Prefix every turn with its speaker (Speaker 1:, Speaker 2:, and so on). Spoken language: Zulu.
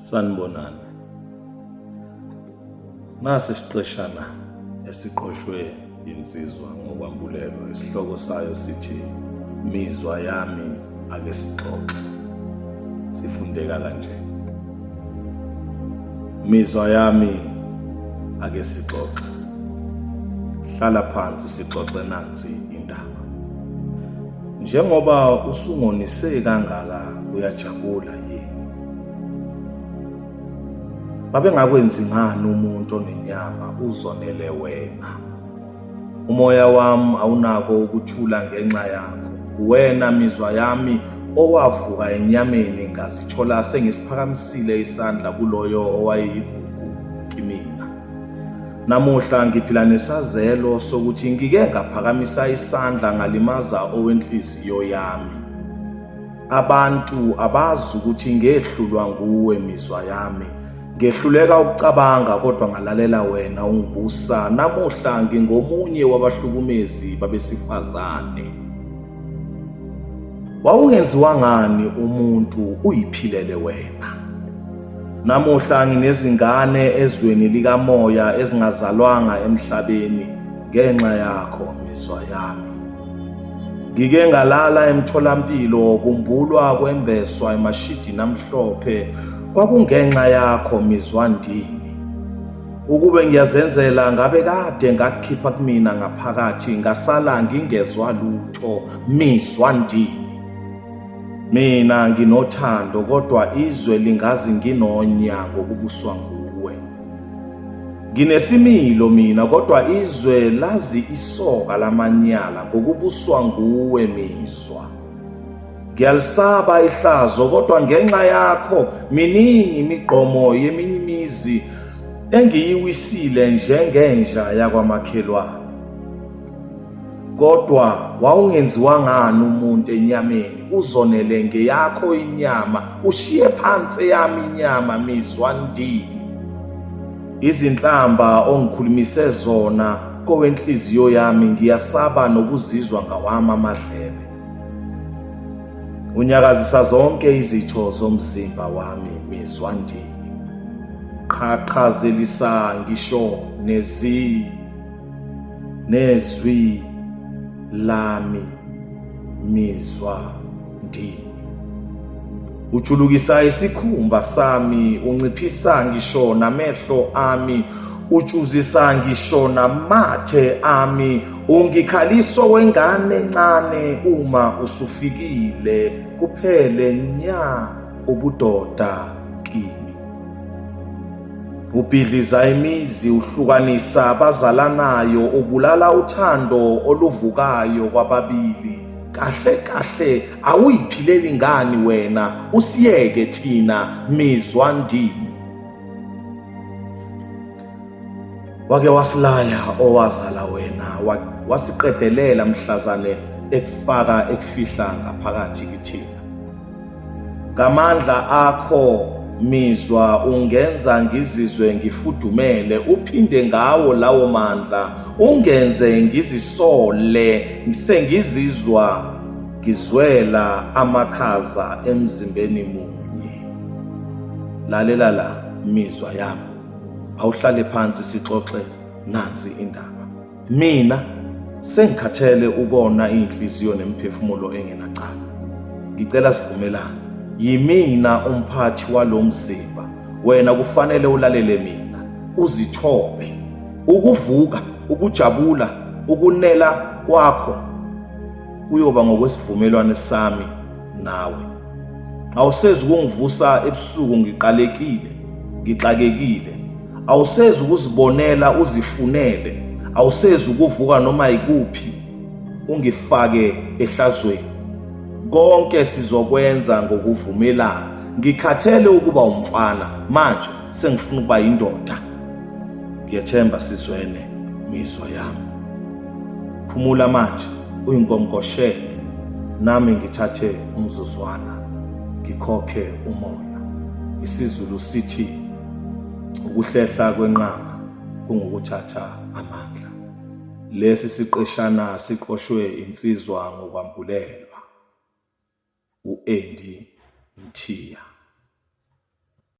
Speaker 1: Sanibonani. Nasi isiqeshana esiqoshwe yinsizwa ngokwambulelo isihloko sayo sithi Mizwa yami ake sixoxe. Sifundeka kanje. Mizwa yami ake sixoxe. Hlala phansi sixoxe nansi indaba. Njengoba usungonise kangaka uyajabula yini? Babengakwenzi ngani umuntu onenyama uzonele wena? Umoya wami awunako ukuthula ngenxa yakho. Uwena mizwa yami owavuka enyameni ngazithola sengisiphakamisile isandla kuloyo owayeyigugu kimina. Namuhla ngiphila nesazelo sokuthi ngike ngaphakamisa isandla ngalimaza owenhliziyo yami. Abantu abazi ukuthi ngehlulwa nguwe mizwa yami. Ngehluleka ukucabanga kodwa ngalalela wena ungibusa. Namuhla ngingomunye wabahlukumezi babesifazane. Wawungenziwa ngani umuntu uyiphilele wena? Namuhla nginezingane ezweni likamoya ezingazalwanga emhlabeni ngenxa yakho mizwa yami. Ngike ngalala emtholampilo kumbulwa kwembeswa emashidini amhlophe kwakungenxa yakho mizwa ndini. Ukube ngiyazenzela ngabe kade ngakukhipha kumina ngaphakathi ngasala ngingezwa lutho mizwa ndini. Mina nginothando kodwa izwe lingazi nginonya ngokubuswa nguwe. Nginesimilo mina kodwa izwe lazi isoka lamanyala ngokubuswa nguwe mizwa. Ngiyalisaba ihlazo kodwa ngenxa yakho miningi imigqomo yeminye imizi engiyiwisile njengenja yakwamakhelwane. Kodwa wawungenziwa ngani umuntu enyameni uzonele ngeyakho inyama ushiye phansi eyami inyama mizwa ndini izinhlamba ongikhulumise zona kowenhliziyo yami ngiyasaba nokuzizwa ngawami amadlebe unyakazisa zonke izitho zomzimba wami mizwa ndini qhaqhazelisa ngisho nezi nezwi lami mizwa ndini ujulukisa isikhumba sami unciphisa ngisho namehlo ami utshuzisa ngisho namathe ami ungikhaliso wengane encane uma usufikile kuphele nya ubudoda kimi Ubhidliza imizi, uhlukanisa abazalanayo, ubulala uthando oluvukayo kwababili. Kahle kahle awuyiphileli ngani wena, usiyeke thina mizwa ndini. Wake wasilaya owazala wena, wasiqedelela mhlazane ekufaka ekufihla ngaphakathi kithina. Ngamandla akho mizwa ungenza ngizizwe ngifudumele, uphinde ngawo lawo mandla ungenze ngizisole sengizizwa ngizwela amakhaza emzimbeni munye. Lalela la mizwa yami, awuhlale phansi sixoxe nansi indaba. Mina sengikhathele ukona iy'nhliziyo nemiphefumulo engenacala. Ngicela sivumelane. Yimina umphathi walo mzimba. Wena kufanele ulalele mina, uzithobe. Ukuvuka, ukujabula, ukunela kwakho kuyoba ngokwesivumelwane sami nawe. Awusezi ukungivusa ebusuku ngiqalekile, ngixakekile. Awusezi ukuzibonela uzifunele, awusezi ukuvuka noma yikuphi ungifake ehlazweni. Konke sizokwenza ngokuvumelana. Ngikhathele ukuba umfana manje sengifuna ukuba yindoda. Ngiyethemba sizwene mizwa yami. Phumula manje uyinkonkoshele nami ngithathe umzuzwana ngikhokhe umoya. IsiZulu sithi ukuhlehla kwenqama kungukuthatha amandla. Lesi siqeshana siqoshwe insizwa ngokwambulelwa u-Andy Mthiya.